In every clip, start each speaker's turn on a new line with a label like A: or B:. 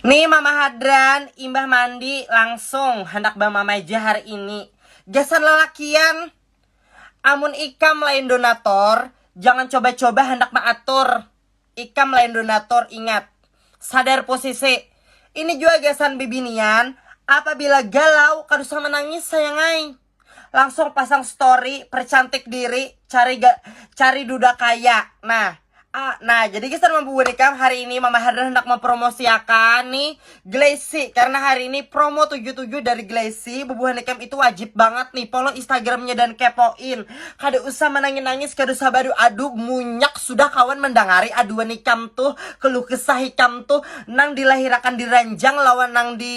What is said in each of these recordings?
A: Nih Mama Hadran, imbah mandi langsung handak bamamai ja hari ini. Gasan lalakian, amun ikam lain donator, jangan coba-coba handak maatur. Ikam lain donator ingat, sadar posisi. Ini jua gasan bibinian, apabila galau kada usah manangis sayang ai. langsung pasang story percantik diri cari ga, cari duda kaya nah ah, nah jadi guys teman buburikam hari ini Mama Herda hendak mempromosiakan nih Glacy karena hari ini promo 77 dari Glacy bubuhanikam itu wajib banget nih follow instagramnya dan kepoin kada usah menangis nangis kada usah badu adu munyak sudah kawan mendangari aduan ikam tuh keluh kesah ikam tuh nang dilahirakan di ranjang lawan nang di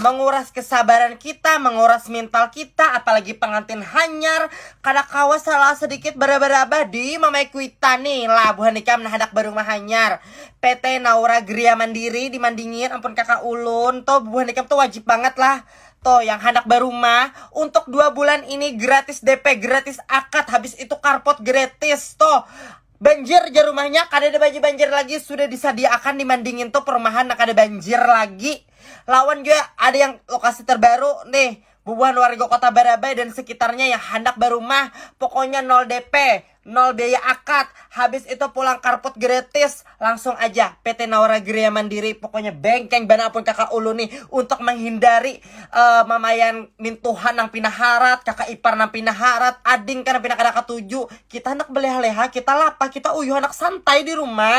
A: Menguras kesabaran kita, menguras mental kita, apalagi pengantin hanyar, kada kawa salah sedikit berabah-rabah di mamae kuitan ni lah buhan ikam nah handak barumah hanyar. PT Naura Gria Mandiri di Mandingin ampun kaka ulun to buhan ikam tu wajib bangat lah to yang handak barumah untuk dua bulan ini gratis DP, gratis akad, habis itu karpot gratis to. Banjir jar rumahnya, kadada banyu banjir lagi, sudah disadiaakan di mandingin tu perumahan nang kada banjir lagi. Lawan jua ada yang lokasi terbaru nih, bubuhan warga kota Barabai dan sekitarnya yang handak barumah, pokoknya nol DP, nol biaya akad, habis itu pulang karput gratis, langsung aja PT Naura Gria Mandiri, pokoknya bengkeng banar pun kaka ulun nih untuk menghindari uh, mamayan mintuhan nang pina harat, kakak ipar nang pina harat, ading kan nang pina kada katuju. Kita anak beleha-leha, kita lapa, kita uyuh anak santai di rumah.